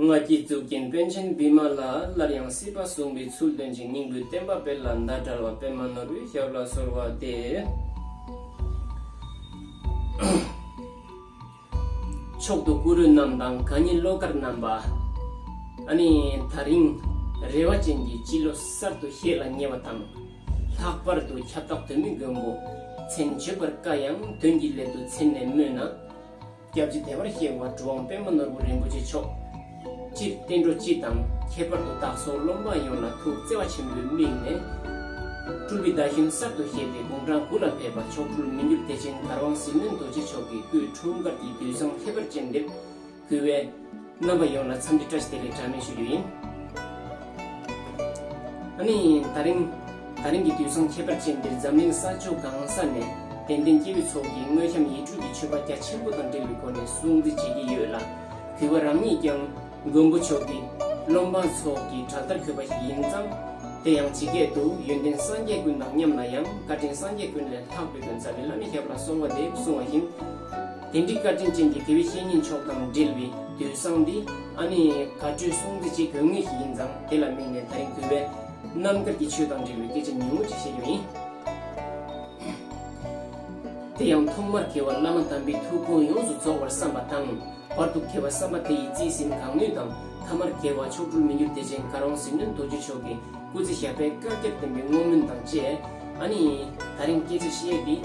སྔ་ཁྱི་གཙུག་རྒྱན་དཔོན་ཆེན་བི་མ་ལ་སླར་ཡང་སྲིད་པ་བཟུང་བའི་ཚུལ་སྟོན་ཅིང་སྙིང་པོའི་བསྟན་པ་སྤེལ་ལ་མདའ་དར་བ་པད་མ་ནོར་བུའི་ཞབས་ལ་གསོལ་བ་འདེབས། མཆོག་ཏུ་གུ་རུ་རྣམས་དང་གང་ཉིད་བློ་དཀར་རྣམ་པ། ད་རིང་རེ་བ་ཅན་གྱི་སྤྱི་ལོ་གསར་དུ་ཤེས་ལ་ཉེ་བ་དང། ལྷག་པར་དུ་ཁྱབ་བདག་དོན་མི་མགོན་པོ་མཚན་བརྗོད་པར་དཀའ་ཡང་དོན་གྱི་སླད་དུ་མཚན་ནས་སྨོས་ན། སྐྱབས་རྗེ་དད་པར་གཤེགས་པ་གྲུབ་དབང་དཔལ་མོ་ནོར་བུ་རིན་པོ་ཆེ་མཆོག། སྤྱིར་བསྟན་འགྲོ་སྤྱི་དང་ཁྱད་པར་དུ་བདག་སོགས་སློབ་མ་ཡོངས་ལ་ཐུགས་བརྩེ་བ་ཆེན་པོས་དམིགས་ནས། སྤྲུལ་པའི་བརྡ་ཤུན་གསར་དུ་བཞེངས་ཏེ་དགུང་གྲངས་དགུ་ལ་ཕེབས་པ་མཆོག་སྤྲུལ་མི་འགྱུར་བདེ་ཆེན་དར་དབང་ཟིལ་གནོན་རྡོ་རྗེ་མཆོག་གི་སྐུའི་འཁྲུངས་སྐར་གྱི་དུས་བཟང་ཁྱད་པར་ཅན་འདིར། གུས་བས། རྣམ་པ་ཡོངས་ལ་འཚམས་འདྲི་བཀྲ་ཤིས་བདེ་ལེགས་གྲངས་མེད་ཞུ་རྒྱུ་ཡིན། ཨ་ནི། ད་རིང། ད་རིང་གི་དུས་བཟང་ཁྱད་པར་ཅན་འདིར་འཛམ་གླིང་ས་ཕྱོགས་གང་ས་ནས་དད་ལྡན་སྐྱེ་བོའི་ཚོགས་ཀྱིས་དངོས་བྱམས་ཡིད་སྤྲུལ་གྱི་མཆོད་པ་རྒྱ་ཆེན་པོ་དང་འབྲེལ་བའི་སྒོ་ནས་སྲུང་བརྩི་བྱེད་ཀྱི་ཡོད་ལ། གུས་པ་རང་ཉིད་ཀྱང་མགོན་པོ་མཆོག་གི་བློ་འབངས་ཚོགས་ཀྱི་བྲག་ལྟར་འཁོད་པ་ཞིག་ཡིན་ཙང། དེ་ཡང་ཇི་སྐད་དུ་ཡོན་ཏན་སངས་རྒྱས་ཀུན་དང་མཉམ་ན་ཡང་བཀའ་དྲིན་སངས་རྒྱས་ཀུན་ལས་ལྷག་པའི་དོན་རྩ་བའི་བླ་མེད་ཞབས་ལ་སོང་བ་དེ་གསུངས་བ་བཞིན། དེ་འདྲའི་བཀའ་དྲིན་ཅན་གྱི་དེ་བས་བཤེས་གཉེན་མཆོག་དང་འབྲེལ་བའི་དུས་བཟང་འདི་ཨ་ནི་དགའ་སྤྲོའི་སྲུང་བརྩི་བྱེད་དགོས་ངེས་ཤིག་ཡིན་ཙང་དེ་ལ་དམིགས་ནས་ད་རིང་དུས་བས་རྣམ་དཀར་གྱི་ཆོས་དང་འབྲེལ་བའི་སྐད་ཆ་ཉུང་ངུ་ཅིག་བཤད་རྒྱུ་ཡིན། དེ་ཡང་ཐོག་མར་མཁས་བ་བླ་མ་དམ་པའི་ཐུགས་དགོངས་ཡོངས་སུ་རྫོགས་པར་བསམ་པ་དང། བར་དུ་མཁས་པ་བསམ་པ་དེ་ཡི་རྩིས་ཟིན་གང་ནུས་དང་ཐ་མར་མཁས་བ་མཆོག་སྤྲུལ་མི་འགྱུར་བདེ་ཆེན་དཀར་དབང་ཟིལ་གནོན་རྡོ་རྗེ་མཆོག་གི་སྐུ་ཚེ་ཞབས་པད་བསྐལ་བརྒྱར་བརྟན་པའི་བསྔོ་སྨོན་དང་བཅས། ཨཱ་ནི། ད་རིང་སྐྱེས་ཚེ་ཤེས་ཏེ།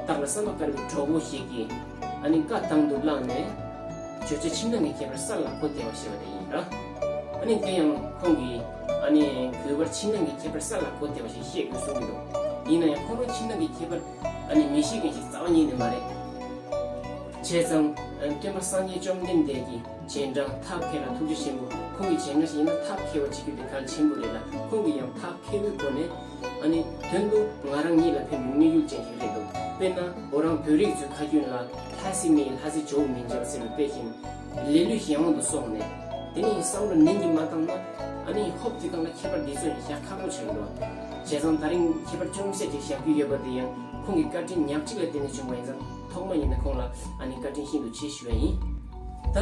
བདག་ལ་བསམ་པ་དཀར་བའི་གྲོགས་བོ་ཞིག་གིས། ཨཱ་ནི། བཀའ་དང་དུ་བླངས་ནས། བརྗོད་བྱ་ཕྱི་ནང་གི་ཁྱད་པར་ས་ལ་གོ་བདེ་བར་བཤད་པ་དེ་ཡིན་ལ། ཨཱ་ནི། དེ་ཡང་ཁོང་གིས། ཨཱ་ནི། གུས་པར་ཕྱི་ནང་གི་ཁྱད་པར་ས་ལ་གོ་བདེ་བ་ཞིག་བཤད་དགོས་གསུངས་ཀྱི་འདུག་ཡིན་ན་ཡང་ཁོང་རང་ཕྱི་ནང་གི་ཁྱད་པར། ཨཱ་ནི། མི་ཤེས་མཁན་ཞིག་རྩ་བ་ཉིད་ནས་མ་རེད། བྱས་ཙང། སྟོན་པ་སངས་རྒྱས་བཅོམ་ལྡན་འདས་ཀྱིས། བྱས་འདྲ་ཐབས་མཁས་ལ་ཐུགས་རྗེ་ཆེན་པོ་ཁོང་གི་བྱས་འདྲ་ཞིག་ཡིན་ན་ཐབས་མཁས་པ་བྱེད་རྒྱུ་དེ་གལ་ཆེན་པོ་རེད་ལ་ཁོང་གི་ཡང་ཐབས་མཁས་པོའི་སྒོ་ནས་ཨ་ནི་དོན་དུ་ང་རང་ཉིད་ལ་ཕན་པའི་དམིགས་ཡུལ་ཅན་ཞིག་རེད་འདུག་དཔེར་ན་འོ་རང་བོད་རིགས་ཚོའི་ཁ་རྒྱུན་ལ་ལྷ་སྲིན་མེད་ལྷ་སྲིན་ཇོ་བོ་མིན་ཅེས་པ་ཟེར་བའི་དཔེ་བཞིན་ལས་ལུས་གཞན་དབང་དུ་སོང་ནས་དེ་ནི་བསམ་བློ་ནན་གྱིས་མ་བཏང་ན་ཨ་ནི་ཧོབ་ཀྱིས་བཏང་ན་ཁྱད་པར་འདི་ཚོ་ཡང་བཞག་ཁག་པོ་ཆགས་ཡོད་པ་བྱས་ཙང་ད་རིང་ཁྱད་པར་ཅུང་ཟད་ཅིག་བཞག་རྒྱུ་ཡོད་པ་དེ་ཡང་ཁོང་གི་བཀའ་དྲིན་ཉག་གཅིག་ལ་བརྟེན་ནས་བྱུང་བ་ཡིན་ཙང། ཐོག་མ་ཡིན་ན་ཁོང་ལ་ཨ་ནི་བཀའ་དྲིན་ཤིན་ཏུ་ཆེ་ཞུ་བ་ཡིན། ད་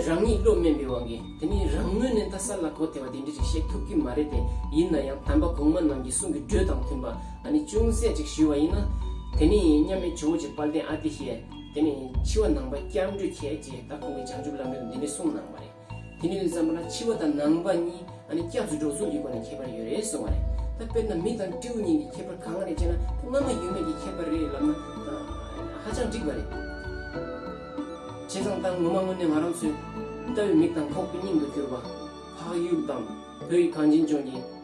རང་ཉིད་བློ་དམན་པའི་དབང་གིས་དེ་མིན་རང་ངོས་ནས་ད་གསར་ལ་གོ་ཐལ་བ་དེ་འདྲི་ཞིག་བཤད་ཐུབ་ཀྱི་མ་རེད་དེ་ཡིན་ན་ཡང་དམ་པ་གོང་མ་རྣམས་ཀྱི་གསུང་གི་འགྲོས་དང་མཐུན་པ་ཨ་ནི་ཅུང་ཟད་ཅིག་ཞུ་བ་ཡིན་ན། དེ་ནི་མཉམ་མེད་ཇོ་བོ་རྗེ་དཔལ་ལྡན་ཨ་ཏི་ཤས་དེ་ནི་འཆི་བ་ནང་པ་སྐྱབས་འགྲོའི་ཁྱེད་ཅེས་ད་ཁོང་གི་བྱང་ཆུབ་ལམ་འགྲེལ་དུ་འདི་འདྲི་གསུངས་གནང་བ་རེད། དེ་ནས་བསམ་པ་ན་ཕྱི་པ་དང་ནང་པ་གཉིས་ཨ་ནི་སྐྱབས་སུ་འགྲོ་ཚུལ་གྱི་སྒོ་ནས་ཁྱད་པར་ཡོད་རེད་གསུང་བ་རེད། ད་དཔེར་ན་མི་དང་སྤྲེའུ་གཉིས་ཀྱི་ཁྱད་པར་གང་རེད་ཅེ་ན་དེ་སྔ་མ་ཡོད་མེད་ཀྱི་ཁྱད་པར་རེད་ལབ་ན་ཧ་ཅང་འགྲིག་པ་རེད། བྱས་ཙང་ད་ངོ་མ་དངོས་གནས་ང་རང་ཚོའི་ལྟ་བའི་མིག་དང་ཁོག་པའི་སྙིང་དུ་གྱུར་པ། འཕགས་ཡུལ་དང་བོད་ཡིག་གངས་ཅན་ལྗོངས་ཀྱི།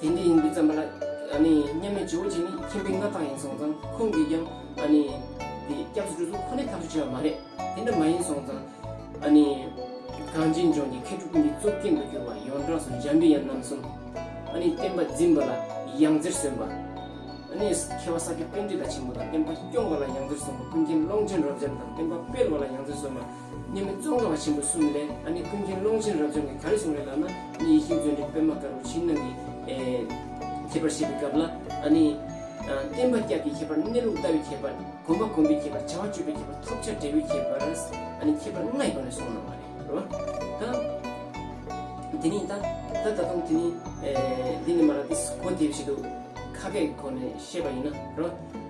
དེ་འདྲའི་ཡིན་དུས་བརྩམས་པ་ལ། མཉམ་མེད་ཇོ་བོ་རྗེ་ནི་ཁྱིམ་པའི་མངའ་བདག་ཡིན་སོང་ཙང་ཁོང་གིས་ཀྱང། སྐྱབས་སུ་འགྲོ་ཚུལ་ཁོ་ནའི་ཐག་གཅོད་བྱས་པ་མ་རེད། དེ་འདྲ་མ་ཡིན་སོང་ཙང། གངས་ཅན་ལྗོངས་ཀྱི་མཁས་གྲུབ་ཀུན་གྱི་གཙུག་རྒྱན་དུ་གྱུར་པ་ཡོངས་གྲགས་སུ་འཇམ་པའི་དབྱངས་རྣམ་གསུམ། བསྟན་པ་འཛིན་པ་ལ་ཡང་རྩེར་སོན་པ། མཁས་པ་ས་སྐྱ་བསྟན་འགྲོའི་ཟླ་ཆེན་པོ་དང་བསྟན་པ་སྐྱོང་བ་ལ་ཡང་རྩེར་སོན་པ་ཀུན་མཁྱེན་ཀློང་ཆེན་རབ་འབྱམས་དང་བསྟན་པ་སྤེལ་བ་ལ་ཡང་རྩེར་སོན་པ། སྙེ་མོ་ཙོང་ཁ་བ་ཆེན་པོ་གསུམ་ལས་ཨ་ནི་ཀུན་མཁྱེན་ཀློང་ཆེན་རབ་འབྱམས་ཀྱིས་ག་རེ་གསུངས་རེད་ལགས་ན་ནི་ཡེ་ཤེས་མཛོད་འདི་པད་མ་དཀར་པོ་ཕྱི་ནང་གི་ཁྱད་པར་བཤད་པའི་སྐབས་ལ་ཨ་ནི། བསྟན་པ་སྐྱབས་ཀྱི་ཁྱད་པར་གནས་ལུགས་ལྟ་བའི་ཁྱད་པར་གོམས་པ་གོམས་པའི་ཁྱད་པར་བྱ་བ་སྤྱོད་པའི་ཁྱད་པར་ཐོབ་བྱ་འབྲས་བུའི་ཁྱད་པར་ཨ་ནི་ཁྱད་པར་ལྔའི་སྒོ་ནས་གསུངས་གནང་བ་རེད་རོ། ད་དེ་ནི་ད་ད་ད་དུང་དེ་ནི་འདི་ནི་མ་ར་ཏིས་གོ་དེ་བཞིན་དུ་ཁ་སྐད་ཁོ་ནས་བཤད་པ་ཡིན་ན་རོ།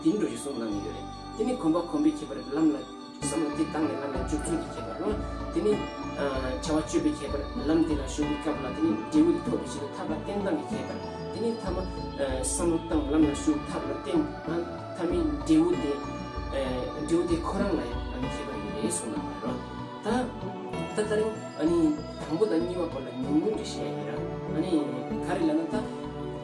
འདི་འགྲོ་རི་གསུམ་ལམ་ཡོད་རེད། དེ་ནི་གོམ་པ་གོམ་པས་ཁྱེད་པར་ལམ་ལ། བསམ་བློ་དེ་བཏང་ནས་ལམ་ལ་འཇུག་ཚུལ་གྱིས་ཁྱེད་པར་རོ། དེ་ནི། བྱ་བ་སྤྱོད་པས་ཁྱེད་པར་ལམ་དེ་ལ་ཞུགས་པའི་སྐབས་ལ་དེ་ནི་འབྲས་བུ་དེ་ཐོབ་པའི་ཕྱིར་དུ་ཐབས་ལ་བརྟེན་སྟངས་ཀྱིས་ཁྱེད་པར། དེ་ནི་ཐ་མ། བསམ་བློ་བཏང་ལམ་ལ་ཞུགས་ཐབས་ལ་བརྟེན། ཐ་མི་འབྲས་བུ་དེ། འབྲས་བུ་དེ་ཁོ་རང་ལ་ཡང་ཨ་ནི་ཁྱེད་པར་ཡོད་རེད་གསུངས་གནང་བར་རོ། ད། ད་ད་རིང་ཨ་ནི། དང་པོ་དང་གཉིས་པ་སྐོར་ལ་ཉུང་ཉུང་གིས་བཤད་ཡོད་ར། ཨ་ནི། ག་རེ་ལ་ན་ད།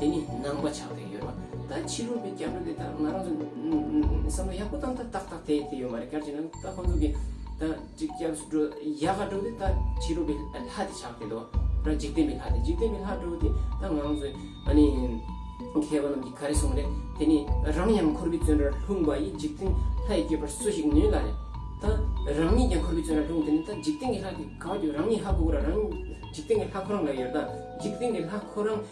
དེ་ནི་ནང་པ་ཆགས་ཏེ་ཡོད་པ་ད་ཕྱི་རོལ་པའི་སྐྱབས་འགྲོ་དེ་དག་ང་རང་ཚོ་བསམ་བློ་ཡག་པོ་བཏང་ད་ཏག་ཏག་དེ་དེ་ཡོད་མ་རེད་གལ་ཆེ་ན་ད་ཁོང་ཚོ་གི་ད་སྐྱབས་འགྲོ་ཡག་ག་འགྲོ་དེ་ད་ཕྱི་རོལ་པའི་ལྷ་དེ་ཆགས་ཏེ་འདུག་ད་འཇིག་རྟེན་པའི་ལྷ་དེ་འཇིག་རྟེན་པའི་ལྷ་འགྲོ་དེ་ད་ང་རང་ཚོའི་ཨ་ནི་མཁས་པ་རྣམས་ཀྱིས་ག་རེ་གསུངས་རེད་དེ་ནི་རང་ཡང་འཁོར་བའི་བཙོན་རར་ལྷུང་བ་ཡིས་འཇིག་རྟེན་ལྷའི་སྐྱེས་པར་སུ་ཞིག་ནུས་ལ་རེད་ད་རང་ཉིད་ཀྱང་འཁོར་བའི་བཙོན་རར་ལྷུང་དེ་ནི་ད་འཇིག་རྟེན་གྱི་ལྷ་དེ་ག་བ་རྒྱུ་རང་ཉིད་ཧ་གོ་གོ་ར་རང་ཉིད་འཇིག་རྟེན་གྱི་ལྷ་ཁོ་རང་ལ་ཡོད་ད་འཇིག་རྟེན་གྱི་ལྷ་ཁོ་རང་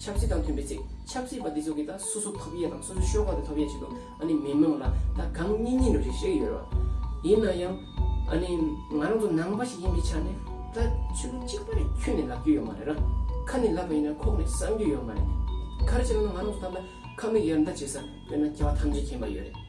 ཆབ་སྲིད་དང་མཐུན་པའི་ཚེ་ཆབ་སྲིད་པ་འདི་ཚོ་གིས་ད་སོ་སོ་ཐོབ་ཡས་དང་སོ་སོའི་ཤོག་ཁག་དེ་ཐོབ་ཡས་བྱེད་འདུག་ཨ་ནི་མི་མང་ལ་ད་གང་སྙིང་སྙིང་རེ་རེ་ཞིག་ཡོད་རེད་བ། ཡིན་ན་ཡང་ཨ་ནི་ང་རང་ཚོ་ནང་པ་ཞིག་ཡིན་པའི་ཆ་ནས་ད་ཆོས་ལུགས་གཅིག་པ་རེ་འཁྱུད་ནས་ལབ་རྒྱུ་ཡོད་མ་རེད་ར། ཁ་ནས་ལབ་པ་ཡིན་ན་ཁོག་ནས་བསམ་རྒྱུ་ཡོད་མ་རེད། ཁ་རེ་བྱས་ན་ང་རང་ཚོ་ད་ལ་ཁ་མིག་ཡར་འདར་བྱེད་ས་དཔེར་ན་སྐྱེ་བ་ཐམས་ཅད་མཁྱེན་པ་ཡོད་རེད།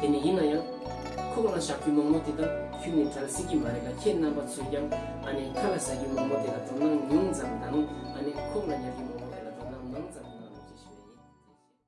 དེ་ནས་ཡིན་ན་ཡང། ཁོག་ན་བཞག་རྒྱུ་མོག་མོག་དེ་དག་ཁྱོད་ནི་བྲལ་སྲིད་ཀྱི་མ་རེད་ལ་ཁྱེད་རྣམ་པ་ཚོས་ཀྱང་ཨ་ནེ་ཁ་ལ་ཟ་རྒྱུ་མོག་མོག་དེ་ལ་དོ་སྣང་ཉུང་ཙམ་དང་ཨ་ནེ་ཁོག་ལ་ཉར་རྒྱུ་མོག་མོག་དེ་ལ་དོ་སྣང་མང་ཙམ་གནང་རོགས་ཅེས་ཞུ་བ་ཡིན།